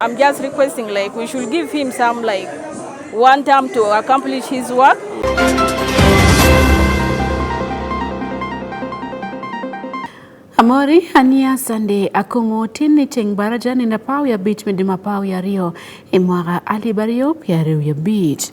I'm just requesting like we should give him some like one time to accomplish his work. Amori ania sande akongo tinni teng baraja ni napau ya bit medima pau ya rio imwaga ali bario piare ya bit.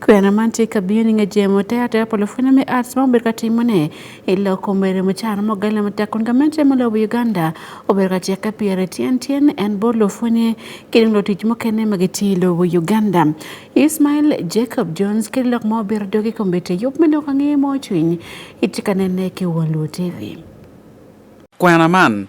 Kwena mantie kabini nga jemo te ate apolo funa me arts ma obedo ka timo ne ilo kombere mo char mo gale mo ta kun gamen che mo lo Uganda obedo ka che ka piere tien tien en bo lo fune kiri lo tich mo kene ma giti lo Uganda Ismail Jacob Jones kiri lok mo obedo dogi kombete yup me lo ka ngi mo chwiny itika nene ke won lo TV. Kwena man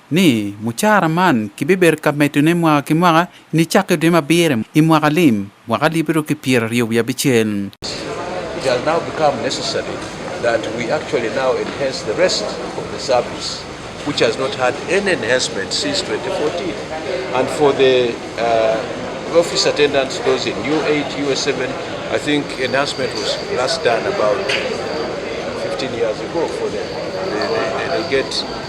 ni mucara man kibibedo ka medone mwaka ki mwaka nicakke dwe ma abiro i mwaka lim mwaka alip aryo ki pyeraryo wiye abicel. It has now become necessary that we actually now enhance the rest of the service, which has not had any enhancement since 2014. And for the uh, office attendants, those in U8, U7, I think enhancement was last done about 15 years ago for them. They, they, they get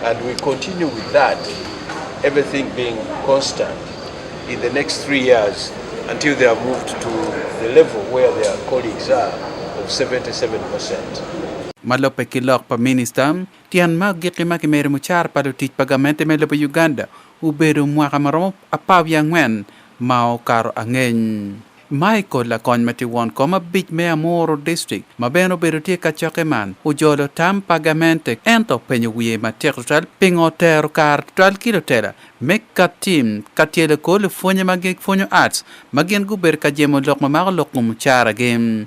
And we continue with that, everything being constant in the next three years until they are moved to the level where their colleagues are of 77%. Malope kilok pa minista, tiyan mag gikima ki meri mucar pa lutic pa gamente me lobo Uganda ubedo mwaka maromo apar wiye angwen ma okaro angeny. Michael lakony ma tye won kom abic me Amoro District ma bene obedo tye ka cokke man ojolo tam pa gamente ento openyo wiye matek tutwal pingo otero kare tutwal ki lutela me ka tim ka tyelo kor lupwonye ma gipwonyo Arts ma gin gubedo ka jemo lok ma mako lok mucaragi.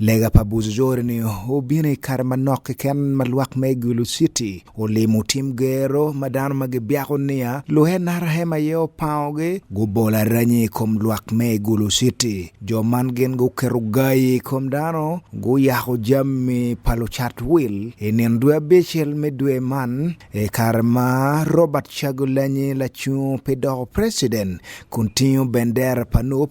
Lega pa Buzujori ni obino i kare manok keken ma lwak me Gulu City olimo tim gero ma dano ma gibyako niya luhe narahema ye opangogi gubolo aranyi i kom lwak me Gulu City. Jo man gin guketo gayi i kom dano guyako jammi pa lucat wil i nino dwe abicel me dwe man i kare ma Robert Chagulanyi lacung pi doko president kun tingo bendera pa nup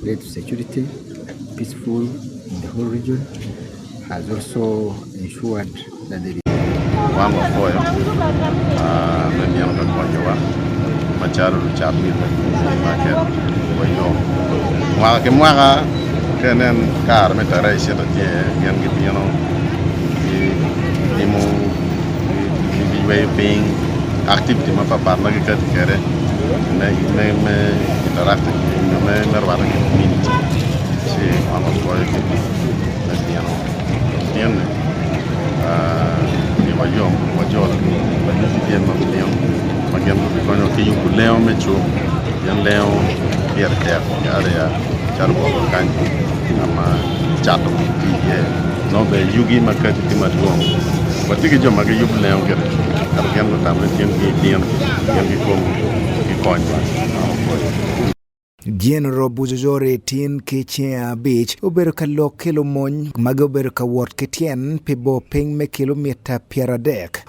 Great security, peaceful in the whole region has also ensured that the wango apoyo ah, manyalo ka konyowa machalo luchap mito make wayo mwaka ki mwaka kenen kar me tarehe ishirini na tano gin gibino Iwe piny activity ma papar ma giketo kere me me me interact me me me rwado ki community si ono koyo ki me pieno pien ne ni wajom wajol wajom pien ma pien ma gen ko bi konyo ki yubu leo me chu yen leo pier tek yare ya charo ko kanyo ama chato ki ye Nobe yugi ma kati ti madwong. Watigi jo ma giyub leo gire. Kar gen go tamre tien ki tien. Gen ki kom ki kony ba. General Bujojore tin ki cinge abic obedo ka lok ki lumony magi obedo ka wot ki tyen pi bor piny me kilomita pyeradek.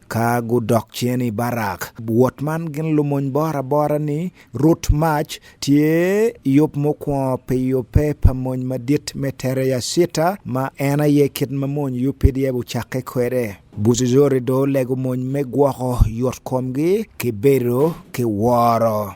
ka gudok cien i Barak. Wot man gin lumony bora bora ni rut mac tye yub mukwongo pi yubbe pa mony madit me tere yacita ma en aye kit ma mony yub pdf ocakke kwede. Buzuzori do lego mony me gwoko yot komgi ki bedo ki woro.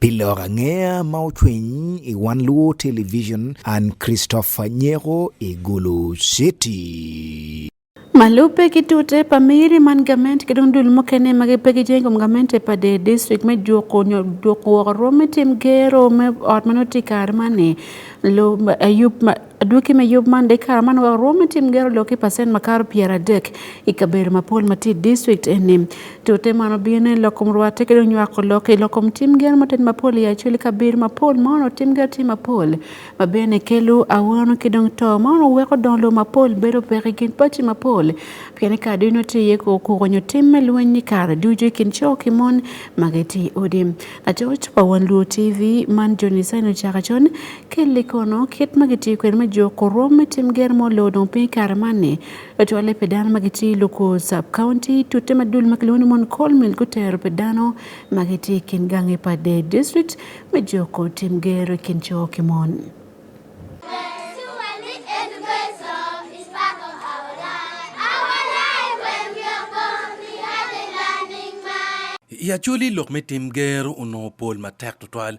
Pile Orangea ma ochweny e One Luo Television and Christopher Nyero e Gulu City. Malupe kitute pamiri man gament ki dong dul mukene ma gipe ki jeng kom gamente pa de district me juko nyo juko woko rwom me tim gero me ot ma noti kare mani lo ayub Adwoki me yub man dek kara man wak rwome tim gero loki pasen makaro pier adek i kabedo mapol ma tye i district eni. Tute man obino ni lokom rwate ki dong nywako loki lokom tim gero matet mapol i acel i kabedo mapol ma ono tim gero tye mapol ma bene kelo awano ki dong to ma ono weko dong lum mapol bedo pek i kin paci mapol pien i kare dino tye iye kor kuko nyo tim me lweny ni kare ducu i kin co ki mon ma gitye i odi. Lacoc pa Wan Luo TV man John Isaino Cakacon Ki li kono, kit ma gitiyo kwede me jo Korom me tim ger mo loo dong piny i kare man-ni, otwolle pi dano ma gitye i Luku Sub-County, tute ma dul ma kilwongo ni mon Coal Mill gutero pi dano ma gitye i kin gangi pa Dade District me juko tim ger i kin co ki mon. I Acholi, lok me tim ger onongo pol matek tutwal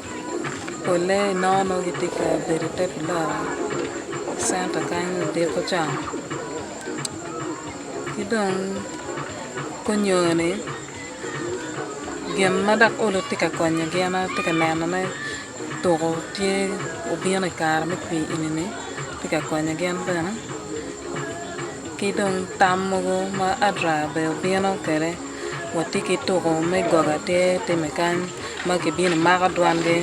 Polle nono gitye ka bedo i te puloka centa kany ludito con ki dong kunyoni gin ma dok olo tye ka konyo gin atye ka nenone tuko tye obino i kare me pii eni tye ka konyo gin bene ki dong tam mogo ma adra bene obino kwede. Watye ki tuko me gogo atir timme kany ma kibino mako dwangi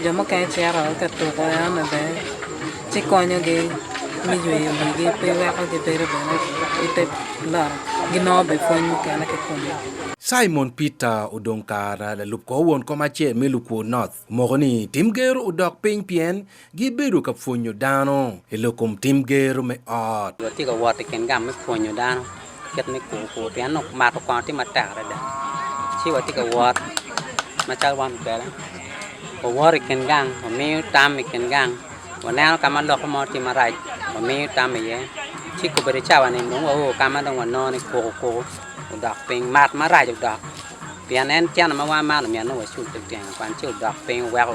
jo mukene cito ka tuko eno bene ci konyogi me yweyo wigi pe weko gibedo bene ite loro ginongo be pwony mukene ki kome Simon Peter odong kara lalub ko won kom acel me Lukwor North omoko ni tim gero odok piny pien gibedo ka pwonyo dano i lok kom tim gero me ot watye ka wot i kin gam me pwonyo dano kit me kur kur pien nok mato kwano tye matek adada ci watye ka wot macalo wan kwede wawot i kin gang wamiyo tam i kin gang waneno ka ma loko mo tye marac wamiyo tam iye ci kobedo cawani dong wao ka ma dong wanono ni kuku kuku odok piny mat marac odok pien en ceno ma wan man omyero nongo wacul teteng kwan ci odok piny weko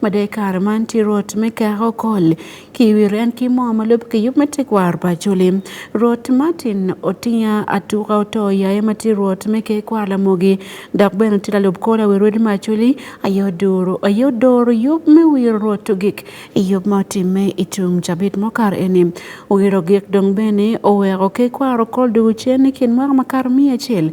made kare man ti rot me keko kol ki wi ren ki mo ma lub ki yub me tekwar pa culi rot martin otinya atuka oto yaye ma ti rot me ke kwar lamogi dok bene ti lalub kola wi rodi ma culi aye odoro aye odoro yub me wiro rot ogik i yub ma otimme i tung cabit mokar eni wiro gik dong bene oweko ke kwaro kol dugu cen ni kin mwaka makato miya acel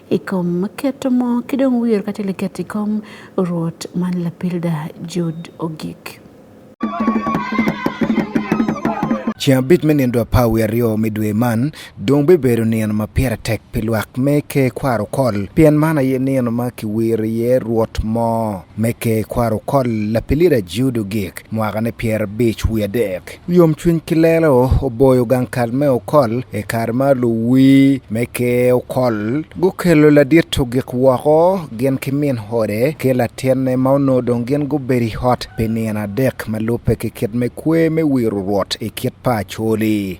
i kom keto mo ki dong wir ka tye liket i kom Rwot man lapilda Jud ogik. Ceng abit me nindo apar wiye aryo me dwe man dong bibedo nino ma pire tek pi lwak me ke kwaro kol pien man aye nino ma kiwiro iye Rwot mo me ke kwaro kol lapilida Jud ogik mwakane pyerabic wiye adek. yom cwiny ki lelo oboyo gang kal me okol i kare ma luwi me ke okol gukelo ladit ogik woko gin ki min hode ki latinne ma onongo dong gin gubedo i ot pi nino adek ma lubbe ki kit me kwe me wiro rwot i kit pa acoli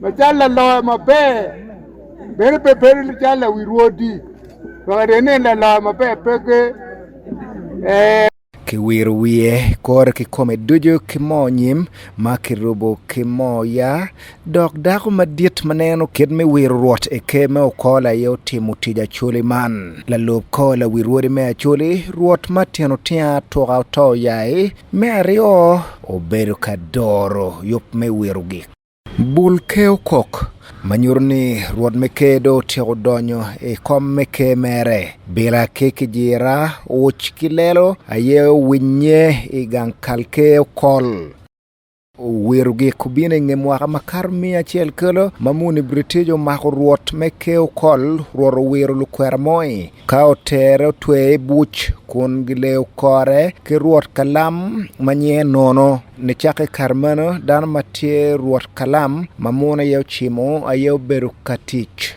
Machala loyo maber bere pe bere li chala wi rwodi wakati ene la loyo maber peke eh kiwir wiye kore kikome ducu ki moo nyim ma kirubo ki moo ya dok dako madit ma neno kit me wiro rwot i ker me okola aye otimo tic acoli man lalub kola wi rwodi me acoli rwot ma tino tya tuka oto yaye Me aryo, obedo ka doro yub me wiro gik. Bul keyo kok ma nyuto ni Rwot me Ker dong otyeko donyo i kom me Ker mere. Bila ki kijira, uc ki lelo aye owinnye i gang kal keyo kol. Oweru gik kubine nge mwaka makar mia achiel kelo mamuni British omako ruot me keo kol ruoro wiro lukwera moi ka otere otweye i buc kun gileyo kore ki ruot kalam ma nyiye nono nicakke kar meno dano ma tye ruot kalam ma munu aye ocimo aye obedo ka tic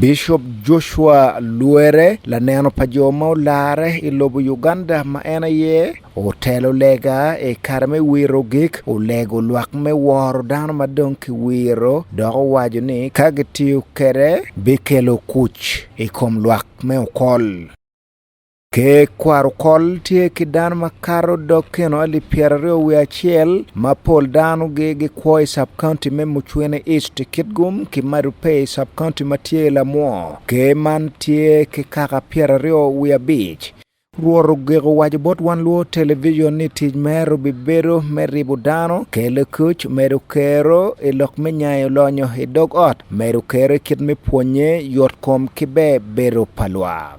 Bishop Joshua Luere laneno pa jo ma olare i lobo Uganda ma en aye otelo lega e kare me wiro gik olego lwak me woro dano ma dong kiwiro dok owaco ni ka gitiyo kede bikelo kuc i kom lwak me okol. Ke kwar kol tye ki dano ma kato dog keno alip pyeraryo wiye acel ma pol dano gi gi kwo i sub county me Mucwini East i Kitgum ki Madopey i sub county ma tye i Lamwo. Ke man tye ki kaka pyeraryo wiye abic. Rwot ogik owaco bot wan Luo Television ni tic mere obi bedo me ribo dano, kelo kuc, medo kero i lok me nyayo lonyo i dog ot, medo kero i kit me pwonye, yot kom ki be bedo pa lwak.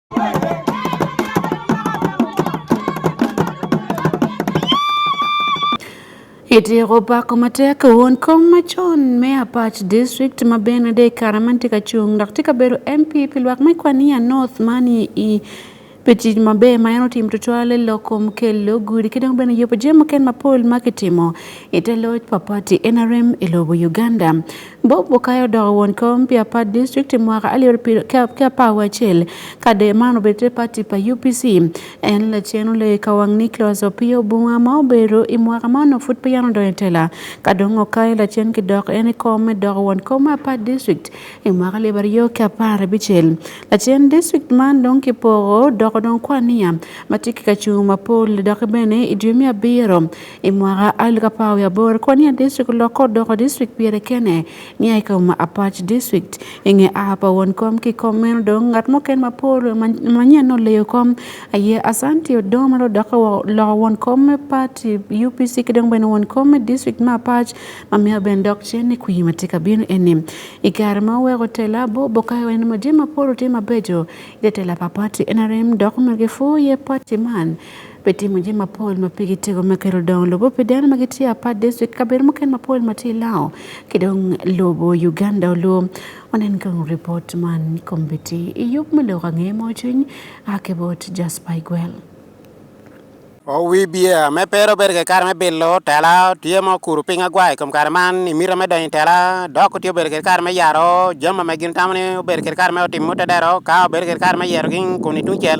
Itieko pako matek wuon kom machon me Apach District ma Benade Karaman tye ka cung dok tye ka bedo MP pi lwak me Kwania North mani i pi tic maber ma en otimo tutwale lok kom kelo gudi ki dong bene yubo jami mukene mapol ma kitimo ite loc pa pati NRM i lobo Uganda. Bob Okayo odoko won kom pi apar district i mwaka alip ki apar wacel kade man obedo pati pa UPC. En lacen olei ka wang Nicholas Opiyo Bunga ma obedo i mwaka ma onongo pud peyan odonyo i tela. Ka dong Okayo lacen ki dok en i kom me doko won kom me apar district i mwaka alip aryo ki apar abicel. Lacen district man dong ki poko doko dong kwan niya ma tye ki kacung mapol doki bene i dwe me abiro I mwaka alip apar wiye aboro, Kwania District olokke odoko district pyere kene nia i kom Apac District. I nge a pa won kom ki kom meno dong ngat muken ma pol manyen oleyo kom aye Asanti Odong ma lodokke loko won kom me pati UPC ki dong bene won kom me district me Apac ma mea bene dok cen ni kwi ma tye ka bino eni. I kare ma oweko tela bo bokayo en ma jami mapol otye mabeco ite tela pa pati NRM dok myero gipwo iye pati man Pete muje mapol ma pigi tego ma kero dong lobo pede an magi tiya pa district kaber muken mapol ma ti lao kidong lobo Uganda oluo onen kang report man kombiti iyup melo kange mo chuny akebot Jasper Igwel owi biya me pero bedo ke kare me bilo tela tye ma okuru piny agwai kom kare man imito me donyo tela dok otye obedo ke kare me yaro jami ma gin tamo ni obedo ke kare me otimo te dero ka obedo ke kare me yero gin kun itungcel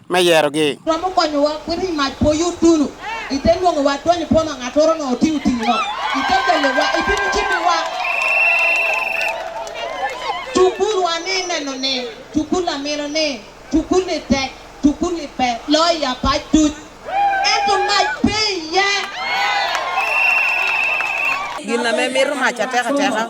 me yerogi. Romo konyowa kwiri mac po yut dulu. Ite nwongo wa dwonyo po ma ng'at oro no oti uti no. Ite kele wa ite mchimi wa. Tukul wa ni neno ni. Tukul la mino ni. Tukul ni tek. Tukul ni pe. Loi ya pa tut. Eto mac pe ye. Gin na me miro mac ateka teka.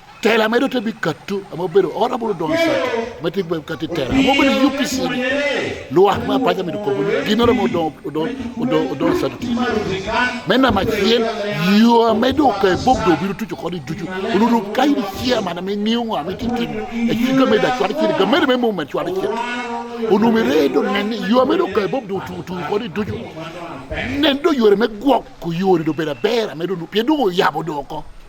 tela medo to bi kattu ama bedo ora bulu don sa ma ti be katti tela mo bedo UPC lu wax ma paja mi ko bu gino mo don don don don sa ti menna ma chien yo medo ko bob do biru tuju ko di tuju lu lu kay di chia ma na me niu ma mi ti ti e ti ko me da chwa ti ga mere me mo ma chwa ti onu me re do nen yo medo ko bob do tu tu ko di tuju nen do yore me gwok ko yore do bera bera medo no piedo yabo do ko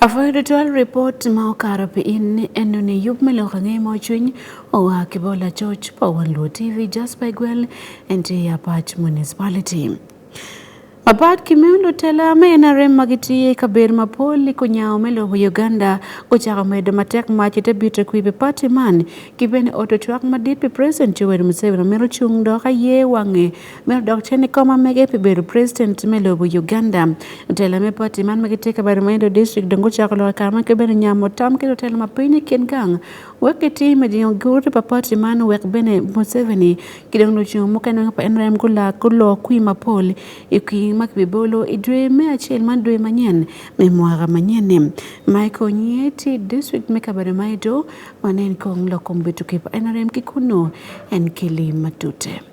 Afoyo dutual report ma okaro pi in ni eno ni yub meloko ng'e mo chuny owa kibola choch po wan luo TV just by gwel enti ya patch municipality. Apat kimiundo tela me NRM ma gitiye ka ber ma poli ko nyawo me lobo Uganda ko chako medo matek machi te bito kwi be party man ki bene oto twak madit pe President Yoweri Museveni mero chung do ka ye wange Mel dok cen i kom ma mege pi bedo president me lobo Uganda. Telo me party man ma gitye ka bedo ma Indo district dong gucako loko kare ma kibene nyamo tam ki lutelo ma piny i kin gang wek gitim i jingo gurute pa party man wek bene Museveni ki dong lucung mukene weng pa NRM gulak guloo kwi mapol i kwi ma kibibolo i dwe me acel man dwe manyen me mwaka manyen-ni. Michael Nye tye district me kabedo ma Ido ma nen kong lok kom bituki pa NRM ki kunu en keli matute.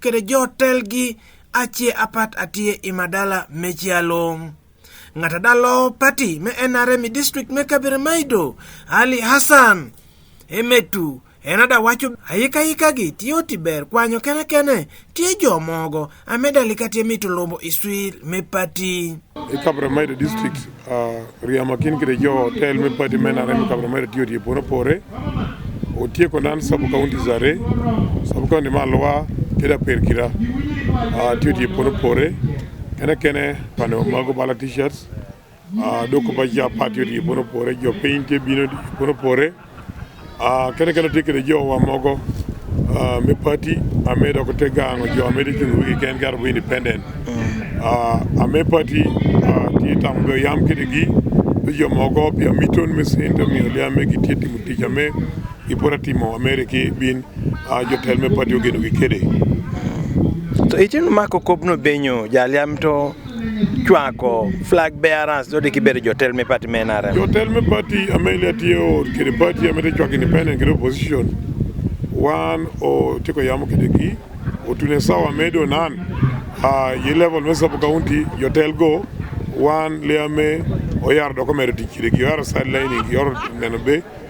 kede jotel gi ache apat atie i madala me calo ng'at adalo pati me NRM district me Kabere Maido Ali Hassan emetu en ada wacho ayika yika gi tiyo tiber kwanyo kene kene tiye jo mogo ameda lika tiye mito lombo iswir me pati e Kabere Maido district Riama kin kire jo tel me pati mena rem kabra mere tiyo tiyo pore pore otie konan sub county zare sub county ma lwa kida per kira tiyo tiyo pore pore kene kene pano mago bala t-shirts doko ba ja pati tiyo pore pore jo paint bino pore pore Ah, kene kene tikere jowa mogo ah, me party ame doko te gango jo ame dikin wigi ken gar bu independent Ah, ame party ah, ti tam go yam kede gi to jo mogo pia miton me sento mi ole ame gi ti timo tich ame gi pora timo amere ki bin ah, jo tel me party ogeno gi kede To itin mako kobno benyo jaliam to Chuanko, flag bearers, so they keep it, you tell me party men are. You tell me party, Amelia Tio, the party, Amelia Chuak independent, get opposition. One or Tiko Yamu Kideki, or Tunesawa Medo Nan, uh, ye level Mesapo County, you tell go, one Liame, or Yar documented Kideki, you are sidelining, your Nanabe,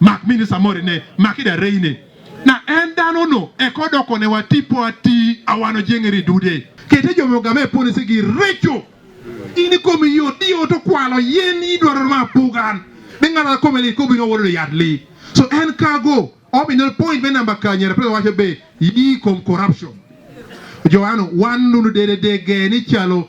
Mak mini samori ne maki da reine na en dano no ekodoko ne watipo ati awano jengeri dude kete jomo game pone sigi recho ini komi yo dio to kwalo yen idwaro ma pugan ni ngara kome li kobi no wolo yad li so en kago obi no point me number kanye repre wacho be yi kom corruption joano wan lulu dede dege ni chalo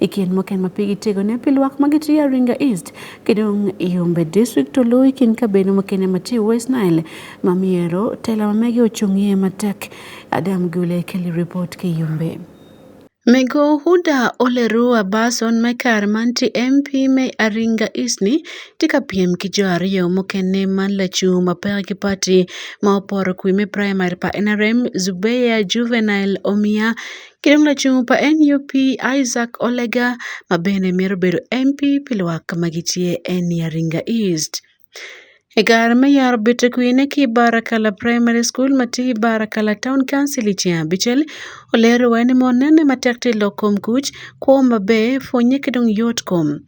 E kien moken ma pigi tego ne pi lwak ma gitiyo Aringa East, kidong Yumbe District to luwi kin kabeno makene matiyo West Nile ma miero tela ma mege ochung'ie matek. Adam Gule keli report ki Yumbe. Mego Huda Oleru Abason me kar man ti MP me Aringa East ni ti ka piem ki jo ariyo mukene man lacung ma peke ki party ma oporo kwi me primary pa NRM Zubeya Juvenile Omia Kendo mna chumpa NUP Isaac Olega ma bende mero bedo MP Pilwak ma gitie en Yaringa East. Egar meyar bete kuine ki Barakala Primary School mati Barakala Town Council ichi abichel olero wani monene matek ti lokom kuch kuom be fonye kidong yot kom.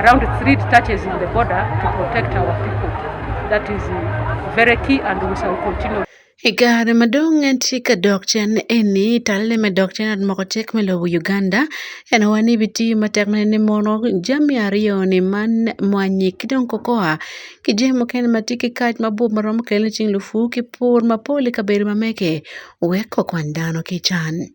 Around three touches in the border to protect our people. That is very key and we shall continue. Igare madong en tika dok chen eni talle me dok chen at moko tek me lobo Uganda en wani biti matek mene ni mono jami ariyo ni man mwanyi kidong kokoa ki jami mukene ma tye ki kac mabor ma romo kelone cing lufu ki pur mapol i kabedo mamege wek kokwan dano ki can.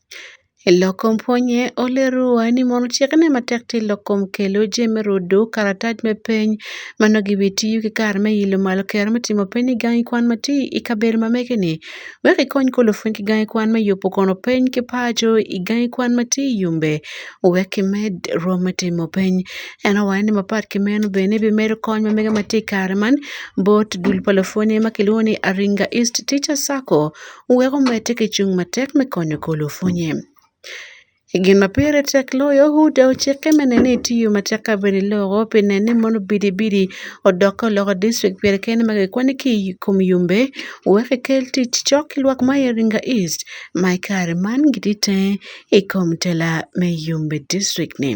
Elokom puonye olerowa ni mondo chik ne matek to elokom kele oje me rodo karataj me piny mano gi wi tiyo gi kar me ilo malo ker me timo piny ni gangi kwan ma ti i kabedo ma mege ni wek ikony kolo piny ki gangi kwan me yubo kono piny ki paco i gangi kwan ma ti i yumbe wek ki med rwom me timo piny en owaco ni mapat ki meno bene bi medo kony ma mege ma ti i kare man bot dul pa lupwonye ma kilwongo ni Aringa East Teacher Sacco Wek omete kichung' matek me konyo golo ofunye. E gin ma pire tek loyo, Huda ocike me nene itiyo matek ka bene loko pi nene mono bidibidi odok ka oloko district pire kene ma kikwani ki i kom yumbe wek kikel tic cok ki lwak ma Iringa East ma i kare man gitye tenge i kom tela me yumbe district-ni.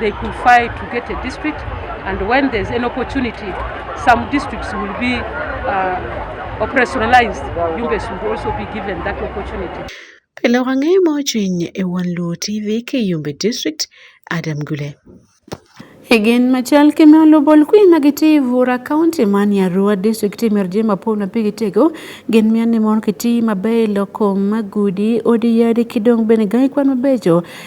They could fight to get a district and when there's an opportunity some districts will be uh, operationalized. Yumbe should also be given that opportunity. Pile wang'e mojiny e Wan Luo TV ke Yumbe District Adam Gule. Egen machal kemalo bol kui magiti vura county man ya ruwa district ti merje mapol na pigi tego gen mian ni mon kiti mabe loko magudi odi yadi kidong bene gai kwan mabejo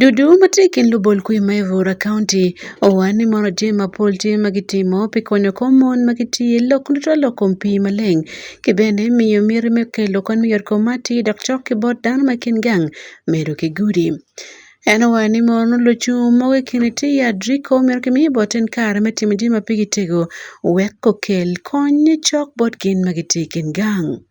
Dudu matek en lubol kuyo ma Evora County. Owani mono tye ma pol tye ma gitimo pi konyo kom mon ma gitye lok duto lok kom pii maleng ki bene miyo miti me kelo kony me yot kom ma atir dok cok ki bot dano ma kin gang medo ki gudi. En owero ni mono lucung mogo i kine tye ya Drico myero ki miye bot en kare me timo jami ma pigi tego wek okel kony cok bot gin ma gitye i kin gang.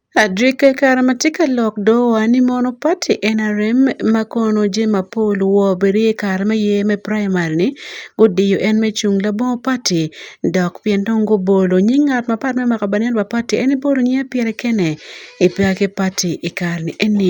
Adrik kara matye ka lok do wa ni mono party NRM ma kono Jane Mapol wo bedi i kare me yer me primary ni gudiyo en me cung labongo party dok pien dong gubolo nying ngat ma party me mako banen pa party en ibolo nyinge pire kene i peya ki party i kare ni eni.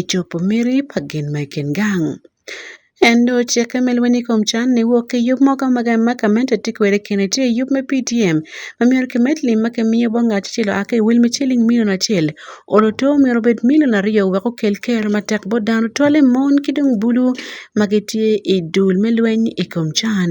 ichopo miri pa gin ma kin gang. Ento cikke me lweny i kom can ni wok ki yub mo ka ma gamente tye kwede kene tye yub me PTM ma myero kimed lim ma kimiyo bot ngat acel oa ki i wil me ciling milion acel olo to myero obed milion aryo wek okel ker matek bot dano twale mon ki dong bulu ma gitye i dul me lweny i kom can.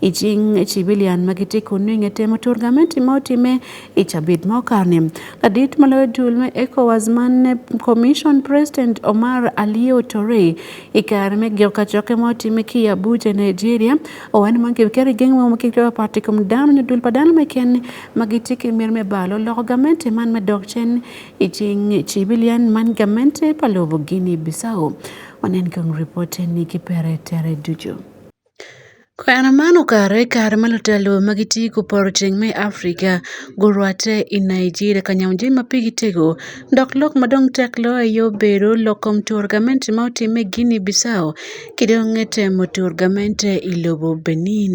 i cing cibilian ma gitye kun nyo inge temo tur gamenti ma otime i cabit ma okane ladit ma loyo dul me ecowas man commission president omar alio tore i kare me giko kacokke ma otime ki abuja nigeria owan man kibikero i geng mo ma kikito papat i kom dano nyo dul pa dano meken ma gitye ki myero me balo loko gamenti man me dok cen i cing cibilian man gamenti pa lobo gini bisao wanen kong ripote ni ki pere tere ducu Kwena man okare e kare ma lotelo ma giti ku poro ceng me Africa gurwatte i Nigeria ka nyamu jami ma pigi tego dok lok ma dong tek loyo aye obedo lok kom tur gamente ma otimme i Guinea Bissau ki dong temo tur gamente i lobo Benin.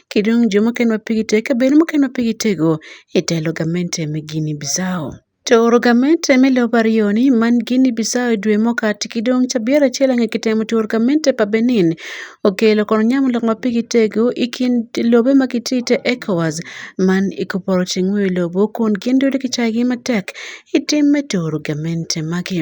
kidong' jo ma keno pigi te ka bed mokeno pigi tego e telo gamente me Guinea Bissau. To oro gamente me lobo ariyo ni man Guinea Bissau e dwe mokati kidong' ca biara acel ang'e kitemo to oro gamente pa Benin okelo kono nyamo lok ma pigi tego i kin lobe ma kiti te ECOWAS man i kuporo ceng'we lobo kun gin dodi kicaygi matek i tim me toro gamente magi.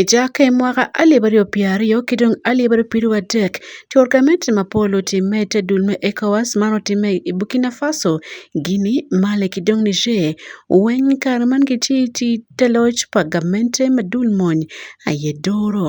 E chak e mwaka alip ariyo piero ariyo ki dong alip ariyo piru adek cwor kamiti mapol otime te dul me ECOWAS man otime i Burkina Faso, Guinea, Mali ki dong Niger weng kare man gitye i te loc pa gamente madul mony aye duru.